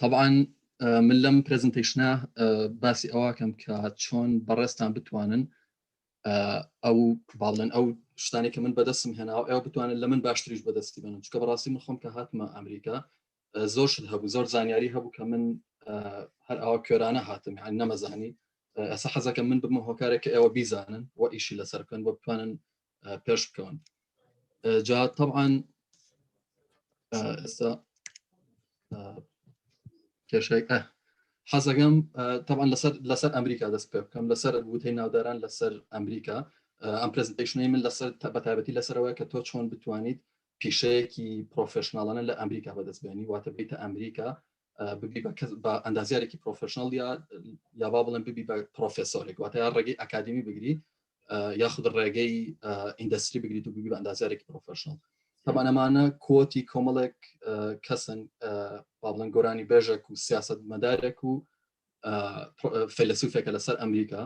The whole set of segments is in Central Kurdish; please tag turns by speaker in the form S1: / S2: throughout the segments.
S1: تەبان من لەم پرزنتیشنە باسی ئەوکەم کە چۆن بەڕێستان بتوانن ئەو باڵێن ئەو شتانی کە من بەدەستم هێناوە ئەو بتوانن لە من باشتریش بەدەستی بنم چکە بەڕاستی من خۆم کە هاتمە ئەمریکا زۆر شت هەبوو زۆر زانیاری هەبوو کە من هەر ئەوە کێرانە هاتم یان نەمەزانی ئەسە حەزەکە من بمە هۆکارێک کە ئێوە بیزانن و ئیشی لەسەر بکەن بۆ بتوانن پێش بکەون جا طبعاان ئێستا کێشێک حەزەکەم طبعا لەسەر لەسەر ئەمریکا دەست پێ بکەم لەسەر وتەی ناوداران لەسەر ئەمریکا ئەم پرزنتیشنی من لەسەر تابەتابەتی لەسەرەوەی کە تۆ چۆن بتوانیت پیشەیەکی پرۆفشنناڵانە لە ئەمریکا بەدەستبێنی واتە بیتە ئەمریکا ببی بە ئەندازیارێکی پرۆفشننەڵ یا یا با بڵێن ببی بە پرۆفسۆرێک واتە یا ڕێگەی ئەکادمی بگری یاخود ڕێگەی ئیندستری بگریت و ببی بە ئەندازیارێکی پرۆفشننەڵ تەمانەمانە کۆتی کۆمەڵێک کەسن با بڵێن گۆرانی بێژێک و سیاست مەدارێک و فەلسوفێکە لەسەر ئەمریکا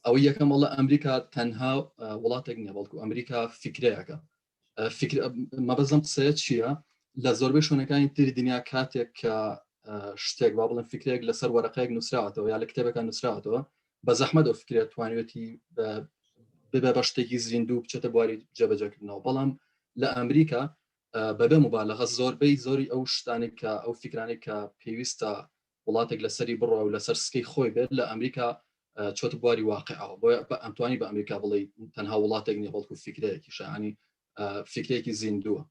S1: ئەوە یەکەم وڵە ئەمریکا تەنها وڵاتێک نیە بەڵکو ئەمریکا فکرەیەەکە مەبەزم قسەیە چییە لە زۆربەی شوێنەکانی تری دنیا کاتێک کە شتێک با بڵێن فکرێک لەسەر وەرەقەیەک نووسراوەتەوە یا لە کتێبەکان نووسراوەتەوە بە زەحمە دەو فکرێت توانێتی ببێ بە شتێکی زیندوو بچێتە بواری جێبەجەکردنەوە بەڵام لە ئەمریکا بەبێ مبالغە زۆربەی زۆری ئەو شتانی کە ئەو فکرانی کە پێویستە وڵاتێک لەسەری بڕوا و لەسەر سکەی خۆی بێت لە ئەمریکا چۆتە بواری واقعەوە بۆیە بە ئەمتوانی بە ئەمریکا بڵێی تەنها وڵاتێک نیە بەڵکو فیکرەیەکی شانی فیکرێکی زیندووە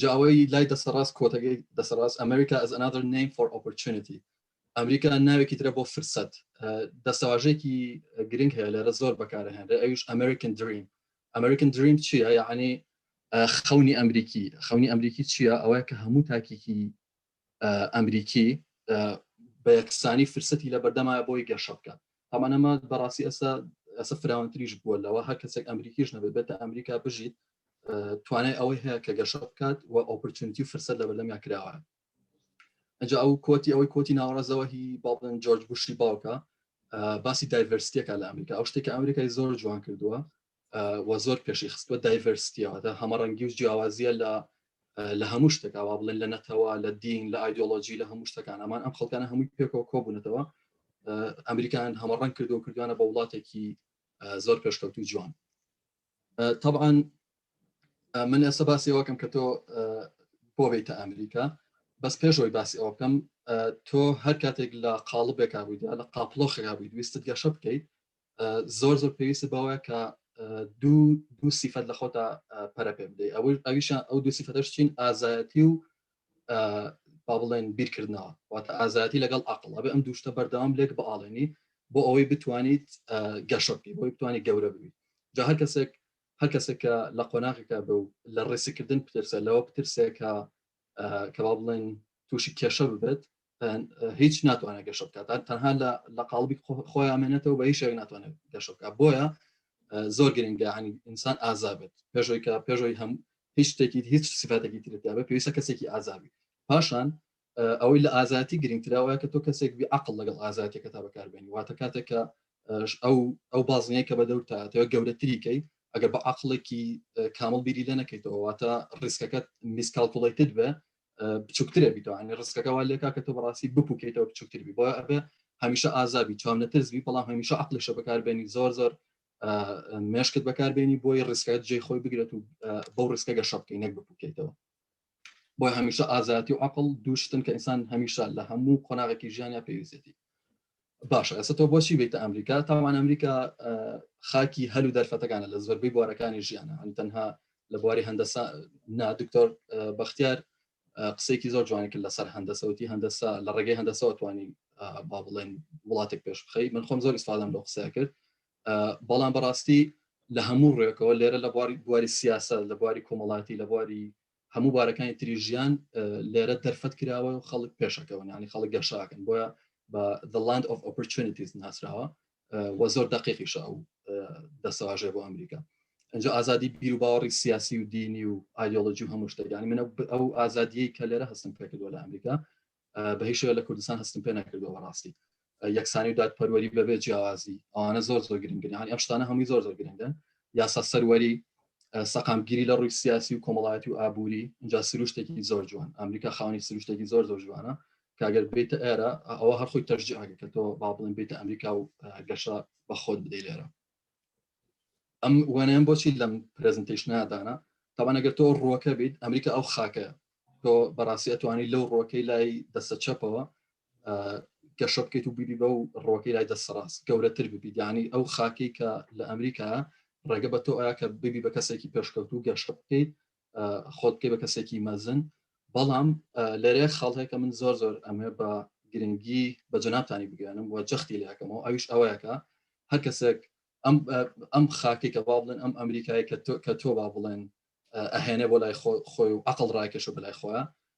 S1: جا ئەوەی لای دەسەڕاست کۆتەکەی دەسەڕاست ئەمریکا ئەز ئەنادر نیم فۆر ئۆپۆرچونیتی ئەمریکا ناوێکی ترە بۆ فرسەت دەستەواژێکی گرنگ هەیە لێرە زۆر بەکارهێنرێ ئەوش ئەمریکن دریم ئەمریکن دریم چییە یعنی خەونی ئەمریکی خەونی ئەمریکی چییە ئەوەیە کە هەموو تاکێکی ئەمریکی بە یەکسانی فرسەتی لە بەردەمایە بۆی گەشە بکات هەمانەمە بەڕاستی ئەسا ئەسە فراونتریش بووە لەوە هەر کەسێک ئەمریکیش نەبێت بێتە ئەمریکا بژیت توانای ئەوەی هەیە کە گەشە بکات و ئۆپرچونتی فرسەت لە بەردەمیا کراوە ئەجا ئەو کۆتی ئەوەی کۆتی ناوەڕازەوە هی باڵن جۆرج بوشی باوکە باسی دایڤرستیەکە لە ئەمریکا ئەو شتێک ئەمریکای زۆر جوان کردووە و زۆر پێشی خستوە دایڤەرستیادا هەمە ڕەنگی و جیاوازیە لە لە هەموو شتەکەوا بڵێن لە نەتەوە لە دین لە ئایدۆلۆژی لە هەموو شتەکان ئەمان ئەم خەڵکانە هەمووی پێکەوە کۆبوونەتەوە ئەمریکان هەمە ڕەنگ کردو کردوانە بە وڵاتێکی زۆر پێشکەوت و جوان طبعا من ئێستا باسی ئەوکەم کە تۆ بۆ بیتە ئەمریکا بەس پێشەوەی باسی ئەو بکەم تۆ هەر کاتێک لە قاڵبێکا بوویدا لە قاپلۆخێکا بوویت ویستت گەشە بکەیت زۆر زۆر پێویستە بەوەیە کە دوو دوو سیفەت لە خۆتا پەرە پێ بدەیت ئەوەی ئەویشان ئەو دوو سیفەتەش چین ئازایەتی و با بڵێن بیرکردنەوە واتە ئازایەتی لەگەڵ عقل ئەبێ ئەم دوشتە بەردەوام لێک بەاڵێنی بۆ ئەوەی بتوانیت گەشە بکەیت بۆی بتوانانی گەورە ببیت جا هەر کەسێک هەر کەسێکە لە قۆناغێکە بە و لە ڕێسیکردن پترسە لەوە پترسێکە کەوا بڵێن تووشی کێشە ببێت هیچ ناتوانێت گەشە بکات تەنها لە لە قاڵبی خۆیان مێنێتەوە بە هیچێک ناتوانێت گەشە بکات بۆیە زۆر گرنگە هەنی ئینسان ئازابێت پێشۆی کە پێشۆی هەم هیچ شتێکی هیچ سفاتێکی ترتیاە پێویستە کەسێکی ئازابی پاشان ئەوەی لە ئازاتی گرنگتراوە کە تۆ کەسێک بی عقل لەگەڵ ئازاتێکە تا بەکاربێنی واتە کاتێکە ئەو ئەو بازنەیە کە بە دەورتاتەوە گەورەتریکەی ئەگەر بە عقلێکی کامل بیری لە نەکەیتەوە واتە ڕیسکەکەت میسکالکوڵیتت بە بچووکترە بیتەوە هەنی ڕستکەکە وا لێکا کە تۆ بەڕاستی بپوکێتەوە بچووکتر بی بۆ ئەبێ هەمیشە ئازابی چاو نەترس بی بەڵام هەمیشە عقلشە بەکاربێنی زۆر زۆر مێشکت بەکاربێنی بۆی ڕستکات جێ خۆی بگرێت و بەو ڕستکە گە شەبکەی نەک بپوکێتەوە بۆ هەمیشە ئازاتی و عقل دووشتن کە ئینسان هەمیشە لە هەموو قۆناغێکی ژیانیا پێویستێتی باشە ئەسە تۆ بۆچی بیتە ئەمریکا تاوان ئەمریکا خاکی هەل و دەرفەتەکانە لە زۆربەی بوارەکانی ژیانە ئەم تەنها لە بواری هەندەسا نا دکتۆر بەختیار قسێکی زۆر جوانی کرد لەسەر هەندەسەوتی هەندەسا لە ڕێگەی هەندەسەوە توانی با بڵێن وڵاتێک پێش بخی من خۆم زۆر ئیسفادەم لە قسە کرد بەڵام بەڕاستی لە هەموو ڕێکەوە لێرە لە بواری بواری سیاسە لە بواری کۆمەڵاتی لە بواری هەموو بارەکانی تری ژیان لێرە دەرفەت کراوە و خەڵک پێشەکەون ینی خەڵک گەشاکەن بۆە بە the land of opportunities ناسراوە وە زۆر دقیقیشە ئەو دەسەواژێ بۆ ئەمریکا ئەجا ئازادی بیر و باوەڕی سیاسی و دینی و ئایدۆلۆجی و هەموو شتەکانی منە ئەو ئازادیەی کە لێرە هەستم پێکردوە لە ئەمریکا بە هیچ شوێ لە کوردستان هەستم پێ نەکردەوە ڕاستی یەکسانی و دادپەروەری بەبێ جیاوازی ئەوانە زۆر زۆر گرنگن هەنی ئەم شتانە هەمووی زۆر زۆر گرنگن یاسا سەروەری سەقامگیری لە ڕووی سیاسی و کۆمەڵایەتی و ئابووری اینجا سروشتێکی زۆر جوان ئەمریکا خاونی سروشتێکی زۆر زۆر جوانە کاگەر بێتە ئێرە ئەوە هەرخۆی تەرجیعگە کە تۆ با بڵێن بێتە ئەمریکا و گەشە بە خۆت بدەی لێرە ئەم وانەیان بۆچی لەم پرزنتیشنا دانا تاوان ئەگەر تۆ ڕۆکە بیت ئەمریکا ئەو خاکە تۆ بەڕاستی ئەتوانی لەو ڕۆکەی لای دەسە چەپەوە گەشە بکەیت و بیبی بە و ڕۆکەی لای دەست ڕاست گەورەتر ببی دیانی ئەو خاکی کە لە ئەمریکا ڕێگە بە تۆ ئایا کە ببی بە کەسێکی پێشکەوت و گەشە بکەیت خۆت پێ بە کەسێکی مەزن بەڵام لەرێ خاڵ هەیە کە من زۆر زۆر ئەمێ بە گرنگی بە جەنابتانی بگەێنم و جەختی لەکەمەوە ئەویش ئەوەیەکە هەر کەسێک ئەم ئەم خاکی کە با بڵێن ئەم ئەمریکای کە تۆ کە تۆ با بڵێن ئەهێنێ بۆ لای خۆی و عقل ڕایکەش و بەلای خۆیان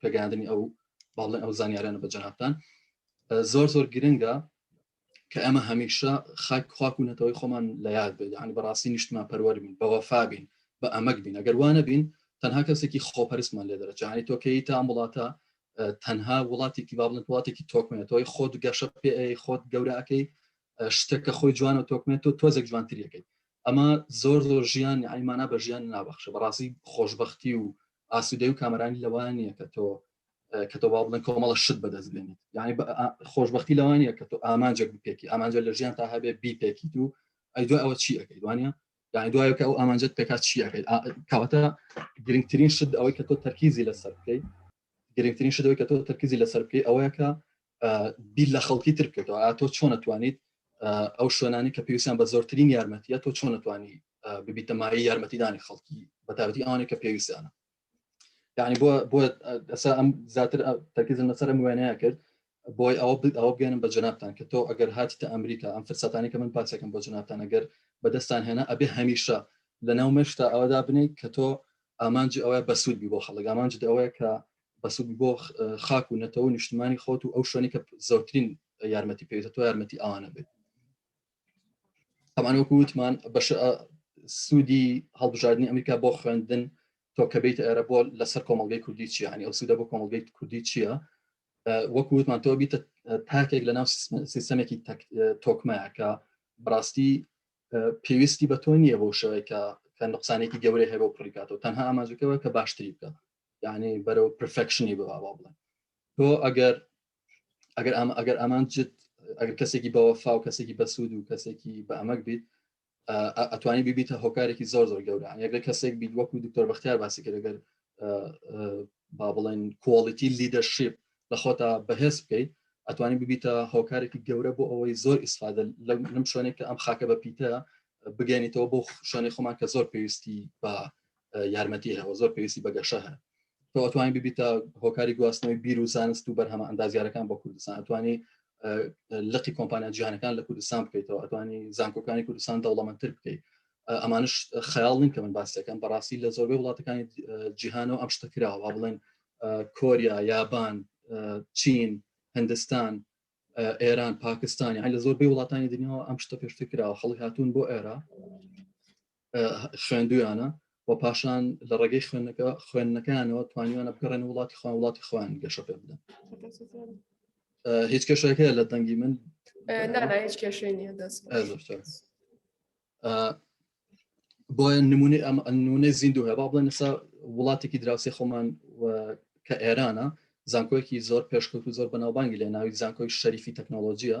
S1: پێگەاندنی ئەو باڵێ ئەو زانیارانە بە جەنابان زۆر زۆر گرنگە کە ئەمە هەمیشە خاک خواک و نەتەوەی خۆمان لە یاد بێت یعنی بەڕاستی نیشتمان پەروەەر بین بەوەفا بین بە ئەمەک بین ئەگەر وانە بین تەنها کەسێکی خۆپەرستمان لێ دەرەجانی تۆکەی تا وڵاتە تەنها وڵاتێکی باڵن وڵاتێکی تۆکمێت تۆی خۆت گەشە پێ خۆت گەوراکەی شتێکە خۆی جوانە تۆکمێت تۆ تۆزێک جوانتریەکەی ئەمە زۆر زۆر ژیان یانی مانا بە ژیان نابەخشە بەڕاستی خۆشببختی و ئاسوودەی و کامەرانی لەوان نیە کە تۆ کە تۆ باڵ بڵێن کۆمەڵە شت بەدەست بێنیت یعنی خۆشببختی لەوان نیە کە تۆ ئامانجێک بپێکی ئامانجە لە ژیان تا هەبێ بیپێکی دوو ئەی دوای ئەوە چی ئەەکەی دوانە یعنی دوایە کە ئەو ئامانجت پێکات چیەکەیت کەواتە گرنگترین شت ئەوەی کە تۆ تەرکیزی لەسەر بکەیت گرنگترین شتەوەی کە تۆ تەرکیزی لەسەر بکەی ئەوەیە کە بیر لە خەڵکی تر بکەێتەوە ئاتۆ چۆن نتوانیت ئەو شوێنانی کە پێویستیان بە زۆرترین یارمەتیە تۆ چۆن نتوانی ببیتەمایی یارمەتیدانی خەڵکی بەتابەتی ئەوانێک کە پێویستیانە یعنی بۆ بۆ ئەسا ئەم زیاتر تەکیزم لەسەر ئەم وێنەیە کرد بۆی ئەوە ئەوە بگەێنم بە جنابان کە تۆ ئەگەر هاتی تا ئەمریکا ئەم فرسەتانی کە من پاسەکەم بۆ جنابان ئەگەر بەدەستان هێنا ئەبێ هەمیشە لە ناو مێشتا ئەوەدا بنیت کە تۆ ئامانجی ئەوەیە بەسوود بی بۆ خەڵک ئامانجد ئەوەیە کە بەسوود بۆ خاک و نەتەوە نیشتمانی خۆت و ئەو شوێنی کە زۆرترین یارمەتی پێویستە تۆ یارمەتی ئەوانە بێت ئەمانەوەکو وتمان بەش سوودی هەڵبژاردننی ئەمریکا بۆ خوێندن تۆ کە بیت ئێرە بۆ لەسەر کۆمەلگەی کوردی چیە هەنی ئەو سوودە بۆ کۆمەلگەی کوردی چییە وەکو وتمان تۆ بیتە تاکێک لە ناو سیستەمێکی تۆکمەیە کە بڕاستی پێویستی بە تۆ نییە بۆ شەوەیە کە نقصانێکی گەورەی هەیە بۆ پڕیکاتەوە تەنها ئاماژەکەەوە کە باشتری بکە یعنی بەرەو پرفکشنی بە باوا بڵێن تۆ ئەگەر ئەگەر ئەمە ئەگەر ئەمان جد ئەگەر کەسێکی بەوەفا و کەسێکی بەسوود و کەسێکی بە ئەمەک بیت ئەتوانی بیبیتە هۆکارێکی زۆر زۆر گەورە یەکە کەسێک بیت وەکو دکتۆر بەختیار باسی کرد گەر با بڵێن کۆڵیتی لیدەرشیپ لە خۆتا بەهێز بکەیت ئەتوانی ببیتە هۆکارێکی گەورە بۆ ئەوەی زۆر ئیسفادە لەم شوێنێک کە ئەم خاکە بە پیتە بگەێنیتەوە بۆ شوێنی خۆمان کە زۆر پێویستی بە یارمەتی هەوە زۆر پێویستی بەگەشە هەن تۆتوانین ببیتە هۆکاری گواستنەوەی بیر و زانست و بەرهەمە ئەندازیارەکان بۆ کوردستان ئەتوانی لقی کۆمپانیا جیانەکان لە کوردستان بکەیتەوە ئەتوانی زانکۆکانی کوردستان دەوڵەمەندتر بکەیت ئەمانش خەیاڵ نین کە من باسەکەم بەڕاستی لە زۆربەی وڵاتەکانی جیهانەوە ئەم شتە کراوە بڵێن کۆریا یابان چین هندستان ئێران پاکستانی هەر لە زۆربەی وڵاتانی دنیاەوە ئەم شتە پێشتر کراوە خەڵک هاتوون بۆ ئێرە خوێندویانە و پاشان لە ڕێگەی خوێندەکە خوێندنەکانەوە توانیوانە بگەڕێن وڵاتی خوان وڵاتی خوان گەشە پێ بدەن هیچ کێشەکە لە دەنگی
S2: من
S1: بۆیە نمونی ئەم نمونەی زیندو هەبا بڵێن نسا وڵاتێکی دراوسی خۆمان کە ئێرانە زانکۆیەکی زۆر پێشکەوت و زۆر بەناوبانگی لە ناوی زانکۆی شەریفی تەکنۆلۆژیە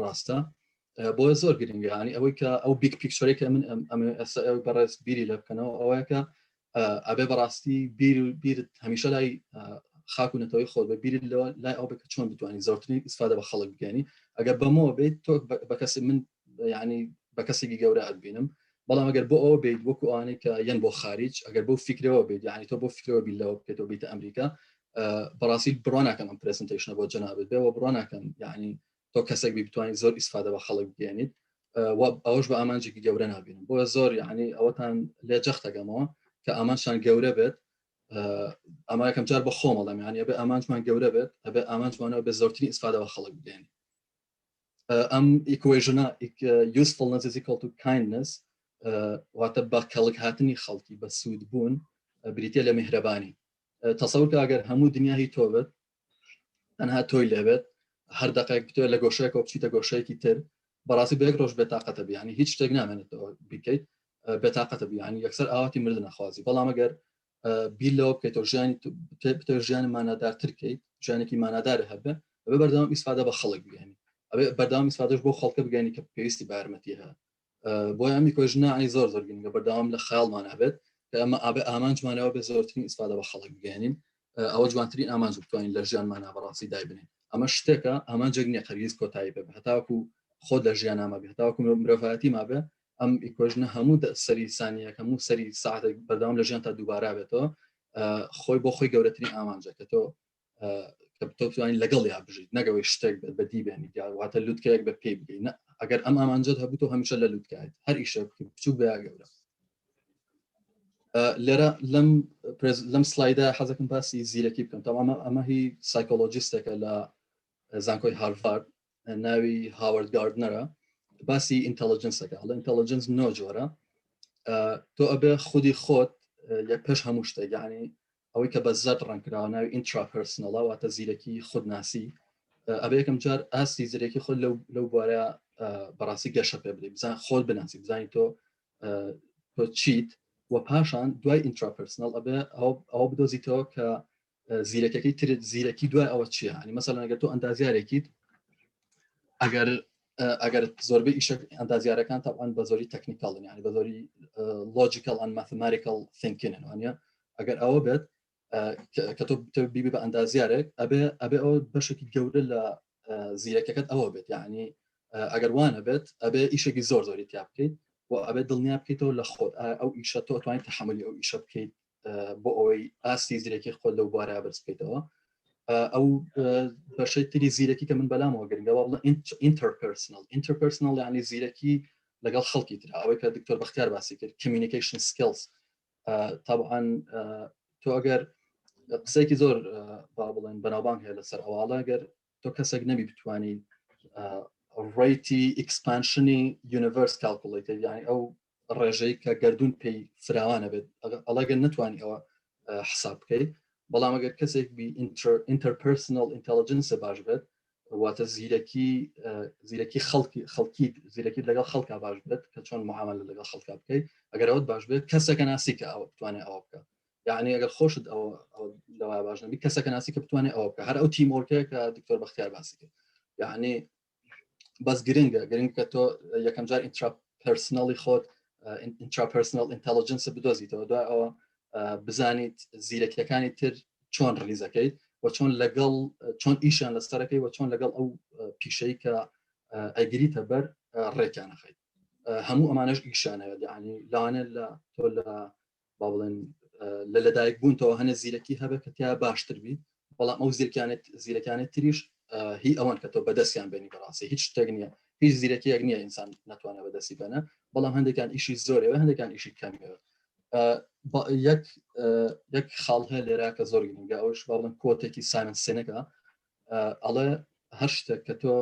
S1: ڕاستە بۆیە زۆر گرنگیانی ئەوەی کە ئەو بیک پیکچۆرێکە من ئەم ئێستا ئەوی بەڕێز بیری لە بکەنەوە ئەوەیەکە ئەبێ بەڕاستی بیر و بیرت هەمیشە لای خاک و نەتەوەی خۆ بە بیرت لەوە لای ئەو بکە چۆن بتوانانی زۆرترین ئیسفادە بە خەڵک بگەنی ئەگەر بەمەوە بیت تۆ بە کەسی من ینی بە کەسێکی گەورە ئەبینم بەڵام ئەگەر بۆ ئەوە بیت وەکو ئەوانەی کە یەن بۆ خارج ئەگەر بۆ فکرەوە بیت ینی تۆ بۆ فکرەوە بیلەوە بکەێتەوە بیتە ئەمریکا بەڕاستی بڕواناکەم ئەم پرسنتشنە بۆ جەنابێت بێەوە بڕواناکەم یعنی تۆ کەسێک بی بتوانین زۆر ئیسفادە بە خەڵک بێنیت ئەوش بە ئامانجێکی گەورە نبین بۆ زۆر یعنی ئەوەتان لێ جەختەکەمەوە کە ئامانشان گەورە بێت ئەما یەکەم جار بە خۆمەڵم یان ئەبێ ئامانجمان گەورە بێت ئەبێ ئامانجمانەوە بە زۆرترین ئیسفادەوە خەڵک بێن ئەم ئیکوێژنە یوسفڵ نەزیزی کەڵ و کاینس واتە بە کەڵک هاتنی خەڵکی بە سوود بوون بریتە لە میهرەبانی تەسەورکە ئەگەر هەموو دنیا هی تۆ بێت تەنها تۆی لێبێت هەر دقێک بتێ لە گۆشەیە کۆپچیتە گۆشەیەکی تر بەڕاستی بەیەک ڕۆژ بێتاقەتە بیانی هیچ شتێک نامێنێت بیکەیت بێتاقەتە بیانی یەکسەر ئاواتی مرد نەخوازی بەڵام ئەگەر بیر لەوە بکەیتەوە ژیانی بتە ژیانی مانادارترکەیت ژیانێکی مانادار هەبێ ئەبێ بەردەوام ئیسفادە بە خەڵک بگەنی ئەبێ بەردەوام ئیسفادەش بۆ خەڵکە بگەنی کە پێویستی بارمەتی هەیە بۆی ئەمی کۆژ ناعی زۆر زۆر گرنگە بەردەوام لە خاڵمان هەبێت کە ئەمە ئابێ ئامانجمانەوە بێ زۆرترین ئیسفادە بە خەڵک بگەێنین ئەوە جوانترین ئامانج بتوانین لە ژیانمانە بەڕاستی دایبنین ئەمە شتێکە ئامانجێک نیە قەریز کۆتایی بێ هەتاکو خۆ لە ژیان نامە بێ هەتاکو مرۆڤایەتی مابێ ئەم ئیکۆژنە هەموو سەری سانیە هەموو سەری ساعتێک بەردەوام لە ژیان تا دووبارا بێتەوە خۆی بۆ خۆی گەورەترین ئامانجەکە تۆ کە بتوانین لەگەڵ یا بژیت نەگەوەی شتێک بەدی بێنی واتە لوتکەیەک بە پێی بگەین ئەگەر ئەم ئامانجد هەبوو تۆ هەمیشە لە لوتکایت هەر ئیشە بچوو بە گەورە لێرە لەم لەم سلایدا حەزەکەم باسی زیرەکی بکەم تەوامە ئەمە هی سایکۆلۆجیستێکە لە زانکۆی هارڤارد ناوی هاوارد گاردنەرە باسی ئینتەلجنسەکە لە ئینتەلجنس نۆ جۆرە تۆ ئەبێ خودی خۆت یە پێش هەموو شتێک یعنی ئەوەی کە بە زەرد ڕەنگکراوە ناوی ئینترا پرسنەڵە واتە زیرەکی خودناسی ئەبێ یەکەم جار ئاستی زیرەکی خۆل لەو بوارە بەڕاستی گەشە پێ بدەی بزان خۆل بناسی بزانین تۆ تۆ چیت و پاشان دوای ئینترا پرسنەڵ ئەبێ ئەو بدۆزیتەوە کە زیرەکەکەی ترت زیرەکی دوای ئەوە چیە هەنی مەسەلەنەگە تۆ ئەندازیارێکیت ئەگەر ئەگەر زۆربەی ئیشە ئەندازیارەکان تاوان بە زۆری تەکنیکاڵن یعنی بە زۆری لۆجیکال ئەن مەثماریکال ثینکینن وانە ئەگەر ئەوە بێت کە تۆ بیبی بە ئەندازیارێک ئەبێ ئەبێ ئەوە بەشێکی گەورە لە زیرەکەکەت ئەوە بێت یعنی ئەگەر وانە بێت ئەبێ ئیشێکی زۆر زۆری تیا بکەیت و ئەبێ دڵنیا بکەیتەوە لە خۆت ئەو ئیشە تۆ توانین تحملی ئەو ئیشە بکەیت بۆ ئەوەی ئاستی زیرەکی خۆ لەو بارە بەرزکەیتەوە ئەو بەشەی تری زیرەکی کە من بەلامەوە گرنگەوە بڵە ئینتەرپرسنل ئینتەرپرسنل یعنی زیرەکی لەگەڵ خەڵکی تر ئەوەی کە دکتۆر بەختیار باسی کرد کمیونیکیشن سکلز تاان تۆ ئەگەر قسەیەکی زۆر با بڵێن بەناوبانگ هەیە لەسەر ئەواڵە گەر تۆ کەسێک نەبی بتانی ڕیتی ئیکسپانشنی یونیڤرس کاڵکوڵیت یعنی ئەو ڕێژەی کە گردردون پێی فراوانە بێت ئەڵێگەن نتوانانی ئەوە حساب بکەیت بەڵام ئەگەر کەسێک بی ئینتەرپرسنل ئینتەلجنسە باش بێت واتە زیرەکی زیرەکی خەڵکی خەڵکی زیرەکی لەگەڵ خەڵکە باش بێت کە چۆن معامل لەگەڵ خەڵکە بکەیت ئەگەر ئەوت باش بێت کەسەکە ناسی کە ئەوە بتوانێت ئەوە بکە یعنی ئەگەر خۆشت ئەوە لەوا باش نبی کەسەکە ناسی کە بتوانێت ئەوە بکە هەر ئەو تیمۆرکەیە کە دکتۆر بەختیار باسی کرد یعنی بەس گرنگە گرنگ کە تۆ یەکەم جار ئینترا پرسنەڵی خۆت ئینترا پرسنل ئینتەلجنس بدۆزیتەوە دوای ئەوە بزانیت زیرەکیەکانی تر چۆن ڕلیزەکەیت و چۆن لەگەڵ چۆن ئیشان لە سەرەکەی و چۆن لەگەڵ ئەو پیشەی کە ئەگریتە بەر ڕێکیانەخەیت هەموو ئەمانش ئیشانەوە دیانی لاوانە لە تۆ لە با بڵێن لە لەدایک بوونتەوە هەنێ زیرەکی هەبێت کە تیا باشتر بی بەڵام ئەو زیرکانێت زیرەکانێت تریش هی ئەوان کە تۆ بەدەستیان بێنی بەڕاستی هیچ شتێک نییە هیچ زیرەکیەک نییە ئینسان ناتوانە بەدەستی بەنە بەڵام هەندێکان ئیشی زۆرەوە هەندێکان ئیشی کەمەوە یەک یەک خاڵ هەیە لێرا کە زۆر گرنگە ئەوش باڵم کۆتێکی سایمن سێنەکە ئەڵێ هەر شتێک کە تۆ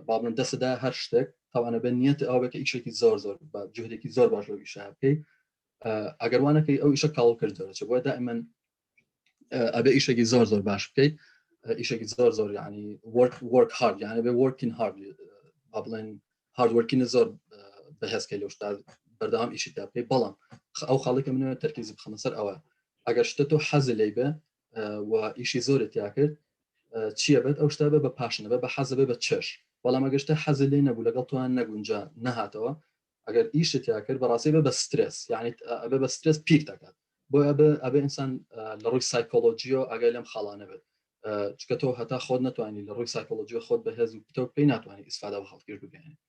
S1: باڵم دەسەدا هەر شتێک تاوانە بە نیەت ئەوە کە ئیشێکی زۆر زۆر بە جوهرێکی زۆر باش لەویشە بکەیت ئەگەر وانەکەی ئەو ئیشە کاڵ کرد دەچێت بۆ دائمن ئەبێ ئیشێکی زۆر زۆر باش بکەیت ئیشێکی زۆر زۆر ینی وەرک وەرک هارد یانە بێ وەرکین هارد با بڵێن هاردوەرکینە زۆر بەهێزکە لەو شتا بەردەوام ئیشی تا بکەیت بەڵام ئەو خاڵێکە منە تەرکیزی بخەمە سەر ئەوە ئەگەر شتە تۆ حەز لی بێ و ئیشی زۆرە تیا کرد چیە بێت ئەو شتا بە بە پاشنە بە بە حەزە بە چێش بەڵام ئەگەشتە حەز لێ نەبوو لەگەڵ توان نەگونجا نەهاتەوە ئەگەر ئیشت تیا کرد بەڕاستی بە بە سترس یعنی ئەبێ بە سترس پیر دەکات بۆ ئەبێ ئەبێ ئینسان لە ڕووی سایکۆلۆژیۆ ئەگەر لەم خاڵانە بێت چکە تۆ هەتا خۆت نتوانانی لە ڕووی سایکۆلۆژیۆ خۆت بە هێز و پتەو پێی ناتوانانی ئیسفادا بە خەڵکیش بگەێنێت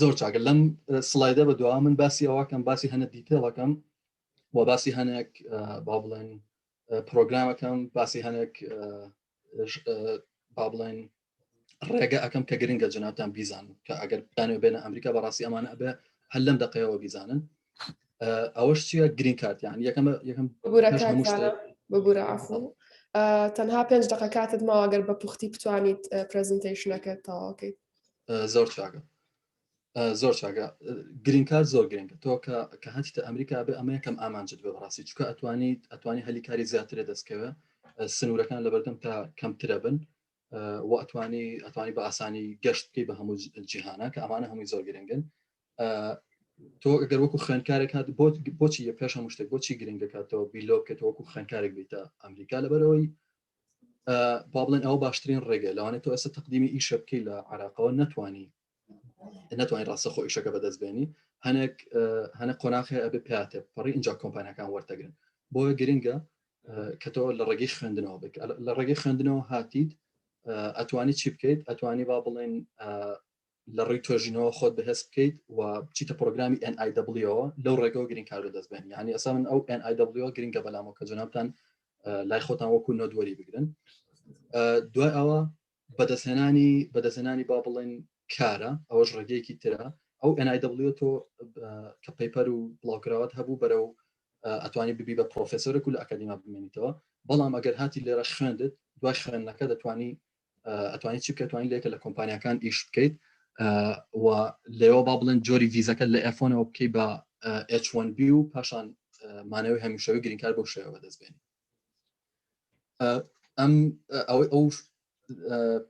S1: زۆر چاگە لەم سلایدە بە دوا من باسی ئەوەکەم باسی هەنە دیتێڵەکەم و باسی هەنێک با بڵێن پرۆگرامەکەم باسی هەنێک با بڵێن ڕێگە ئەەکەم کە گرنگە جناتان بیزان کە ئەگەر بتانێ بێنە ئەمریکا بەڕاستی ئەمانە ئەبێ هەل لەم دقەیەوە بیزانن ئەوەش چیە گرین کارتیان یەکەم یەکەم
S2: ببوورە ئافڵ تەنها پێنج دقە کاتت ماوەگەر بە پوختی بتوانیت پرزنتیشنەکەت تەواوکەیت زۆر چاکە
S1: زۆر چاگە گرین کار زۆر گرنگە تۆ کە کە هەچتە ئەمریکا بێ ئەمە یەکەم ئامانجت بێ بەڕاستی چکە ئەتوانی ئەتوانی هەلی کاری زیاترە دەستکەوە سنوورەکان لە بەردەم تا کەمترە بن و ئەتوانی ئەتوانی بە ئاسانی گەشت بکەی بە هەموو جیهانە کە ئەمانە هەمووی زۆر گرنگن تۆ گەر وەکو خوێنکارێک هات بۆ بۆچی یە پێش هەموو شتێک بۆچی گرنگ دەکاتەوە بیلۆ بکەێت وەکو خوێنکارێک بیتە ئەمریکا لەبەرەوەی با بڵێن ئەو باشترین ڕێگە لەوانێت تۆ ئێستا تقدیمی ئیشە بکەی لە عراقەوە نتوانی نتوانین ڕاستە خۆ ئیشەکە بەدەست بێنی هەنێک هەنە قۆناخی ئەبێ پاتێ پەڕی اینجا کۆمپانیەکان وەرتەگرن بۆیە گرنگە کە تۆ لە ڕێگەی خوێندنەوە بک لە ڕێگەی خوێندنەوە هاتیت ئەتوانی چی بکەیت ئەتوانی با بڵێن لە ڕێی توێژینەوە خۆت بەهێز بکەیت و بچیتە پرۆگرامی NIWەوە لەو ڕێگەەوە گرنگ کار دەست بێن ینی ئەسا من ئەو NIW گرنگە بەلامەوە کە جنابان لای خۆتان وەکو نۆدوەری بگرن دوای ئەوە بەدەستهێنانی بەدەستهێنانی با بڵێن کارە ئەوەش ڕێگەیەکی ترە ئەو NIW تۆ کە پەیپەر و بڵاوکراوات هەبوو بەرەو ئەتوانی ببی بە پرۆفسۆرێک و لە ئەکادیما بمێنیتەوە بەڵام ئەگەر هاتی لێرە خوێندت دوای خوێندنەکە دەتوانی ئەتوانی چی بکەتوانی لێکە لە کۆمپانیەکان ئیش بکەیت و لێەوە با بڵێن جۆری ڤیزەکە لە ئەفۆنەوە بکەی بە H1B و پاشان مانەوەی هەمیشەوەی گرینکار بۆ شێوە بەدەستبێنی ئەم ئەوەی ئەو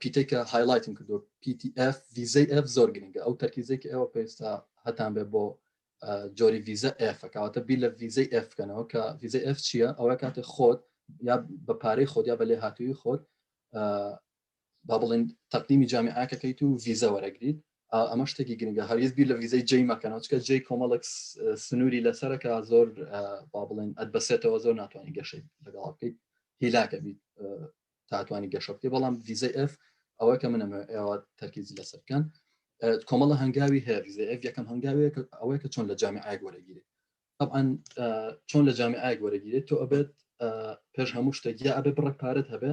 S1: پیتێکە هایلایتم کردو PTF ویزەی F زۆر گرنگە ئەو تەرکیزێکی ئێوە پێستا هەتان بێ بۆ جۆری ویزە ئەفکاتە بی لە ویزەی ئەف بکەنەوە کە ویزە ئەف چییە ئەوە کاتێ خۆت یا بە پارەی خۆت یا بە لێ هاتووی خۆت با بڵێن تەقدیمی جامیعەکەکەیت و ڤیزە وەرەگریت ئەمە شتێکی گرنگە هەرگیز بیر لە ڤیزەی جێی مەکەنەوە چکە جێی کۆمەڵک سنووری لەسەرەکە زۆر با بڵێن ئەتبەسێتەوە زۆر ناتوانانی گەشەی لەگەڵ بکەیت هیلاکە بیت تاتوانی گەشە بکەی بەڵام ڤیزەی ئەف ئەوە کە منە ئێوە تەرکیزی لەسەر بکەن کۆمەڵە هەنگاوی هەیە ڤیزە ئەف یەکەم هەنگاوێک ئەوەیە کە چۆن لە جامیعایەک وەرەگیرێت طبعا چۆن لە جامیعایەک وەرەگیرێت تۆ ئەبێت پێش هەموو شتێک یا ئەبێ بڕێک پارەت هەبێ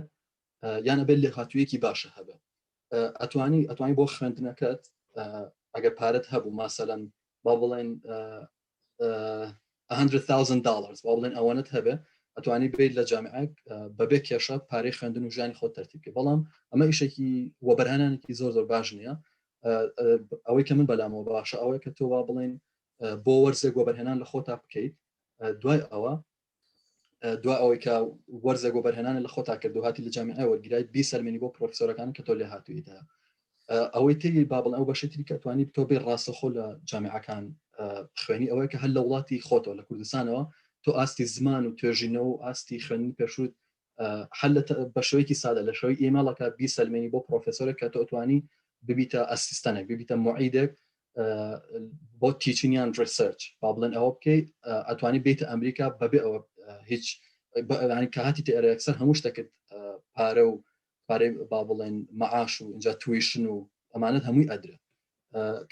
S1: یان ئەبێت لێهاتوویەکی باشە هەبێت ئەتوانی ئەتوانی بۆ خوێندنەکەت ئەگەر پارەت هەبوو ماسەەن با بڵێن 100,000 دلار با بڵێن ئەوەنت هەبێ ئەتوانی بێت لە جامعک بەبێ کێشە پارەی خوێندن و ژیانی خۆ تەرتیبکە بەڵام ئەمە ئیشێکی وەبەرهانانێکی زۆر زۆر باش نییە ئەوەی کە من بەلامەوە باشە ئەوەیە کە تۆوا بڵێن بۆ وەرزێک وەبەرهێنان لە خۆتا بکەیت دوای ئەوە دو ئەوەی کە وەرزە گۆ بەرهێنانە لە خۆتا کردو هاتی لە جامیعە وەرگرای بی سەلمێنی بۆ پرۆفسۆرەکان کە تۆ لێ هاتوویدا ئەوەی تری بابڵ ئەو بەشی تری کە توانی تۆ بێ ڕاستەخۆ لە جامیعەکان خوێنی ئەوەیە کە هەر لە وڵاتی خۆتەوە لە کوردستانەوە تۆ ئاستی زمان و توێژینەوە و ئاستی خوێنی پێشوت هەر بە شێوەیەکی سادە لە شێوەی ئیمێڵەکە بیسەلمێنی بۆ پرۆفسۆرێک کە تۆتوانی ببیتە ئەسیستەنێک ببیتە معیدێک بۆ تیچنیان ریسرچ با بڵێن ئەوە بکەیت ئەتوانی بیت ئەمریکا بەبێ ئەوە هیچ بەئەوانی کاتی تێرەکسەر هەموو شتەکرد پارە و پارەی با بڵێن مەعاش و اینجا تویشن و ئەمانەت هەمووی ئەدرێت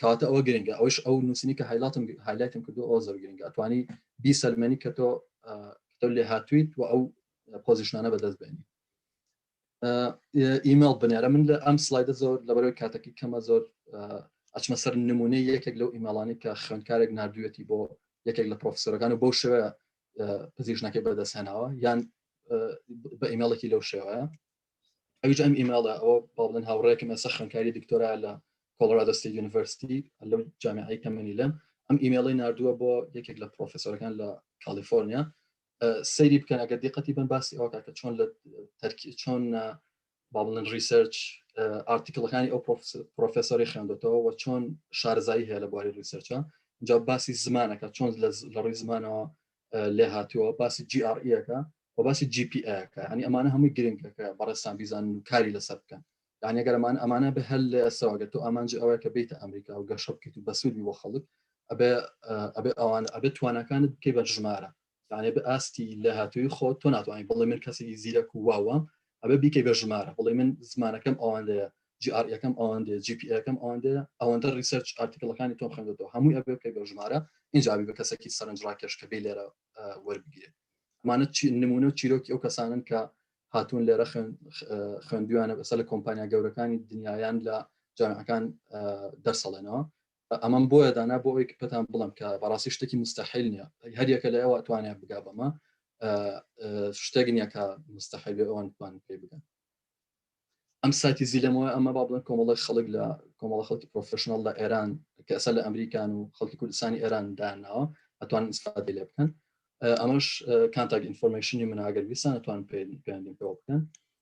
S1: کاتە ئەوە گرنگە ئەوش ئەو نووسنی کە هایلاتم هایلایتم کردو ئەو زۆر گرنگە توانی بی سەلمەنی کە تۆ تۆ لێ هاتویت و ئەو پۆزیشنانە بەدەست بێنی ئیمەڵ بنێرە من لە ئەم سلایدە زۆر لەبەرەوەی کاتەکی کەمە زۆر ئەچمە سەر نمونەی یەکێک لەو ئیمەڵانی کە خوێندکارێک نردوێتی بۆ یەکێک لە پرۆفسۆرەکان و بەو شوەیە پزیشنەکەی بەدەست هێناوە یان بە ئیمێڵێکی لەو شێوەیە ئەویش ئەم ئیمێڵە ئەوە باڵن هاوڕێکم ئەسە خوێنکاری دکتۆرا لە کۆڵرادستی یونیڤرستی لەو جامعی کەمەنی لەم ئەم ئیمێڵی نردووە بۆ یەکێک لە پرۆفسۆرەکان لە کالیفۆرنیا سەیری بکەن ئەگەر دیقەتی بن باسی ئەوکە کە چۆن لە تەرکی چۆن با بڵێن ڕیسەرچ ئارتیکلەکانی ئەو پرۆفسۆری خوێندێتەوە و چۆن شارزایی هەیە لە بواری ڕیسەرچە جا باسی زمانەکە چۆن لە ڕی زمانەوە لێ هاتووە باسی جیڕئەکە و باسی GPAکە ئەنی ئەمانە هەمووی گرنگەکە بەڕێستان بیزان و کاری لەسەر بکەن یعنی گەرمان ئەمانە بە هەل لە ئەسەوەگە تۆ ئامانج ئەوەیە کە بیت ئەمریکا و گەشە بکەیت و بەسوودی بۆ خەڵک ئەبێ ئەبێ ئەوان ئەبێت توانەکانت بکەی بە ژمارە یانێ بە ئاستی لێهاتووی خۆت تۆ ناتوانانی بڵێ من کەسێکی زیرەک و واوام ئەبە بیکەی بە ژمارە بڵێ من زمانەکەم ئەوەندەیە GR یەکەم ئەوەندێ GPەکەم ئەوەندێ ئەوەندە ریسەرچ ئارتیکلەکانی تۆم خوێندەوە هەمووی ئەبێ بکەی بە ژمارە ئینجابی بە کەسێکی سەرنج ڕاکێش کە بێ لێرە وەربگیرێ ئەمانە نمونە و چیرۆکی ئەو کەسانن کە هاتوون لێرە خوێندویانە بەسە لە کۆمپانیا گەورەکانی دنیایان لە جامعەکان دەرسەڵێنەوە ئەمەم بۆیە دانا بۆ ئەوەی پێتان بڵێم کە بەڕاستی شتێکی مستەحیل نییە هەر یەکە لە ئێوە توانیان بگا بەمە شتێک نییە کە مستەحیل ئەوان توان پێ بگەن ئەم ساتی زیلەمەوە ئەمە با بڵێن کۆمەڵی خەڵک لە کۆمەڵە خەڵکی پرۆفشننەڵ لە ئێران کە ئەسەر لە ئەمریکان و خەڵکی کوردستانی ئێران داناوە ئەتوان ئیسفادی لێ بکەن ئەمەش کانتاک ئینفۆرمشنی مناگەر ویسان ئەتوان پێیان پێوە بکەن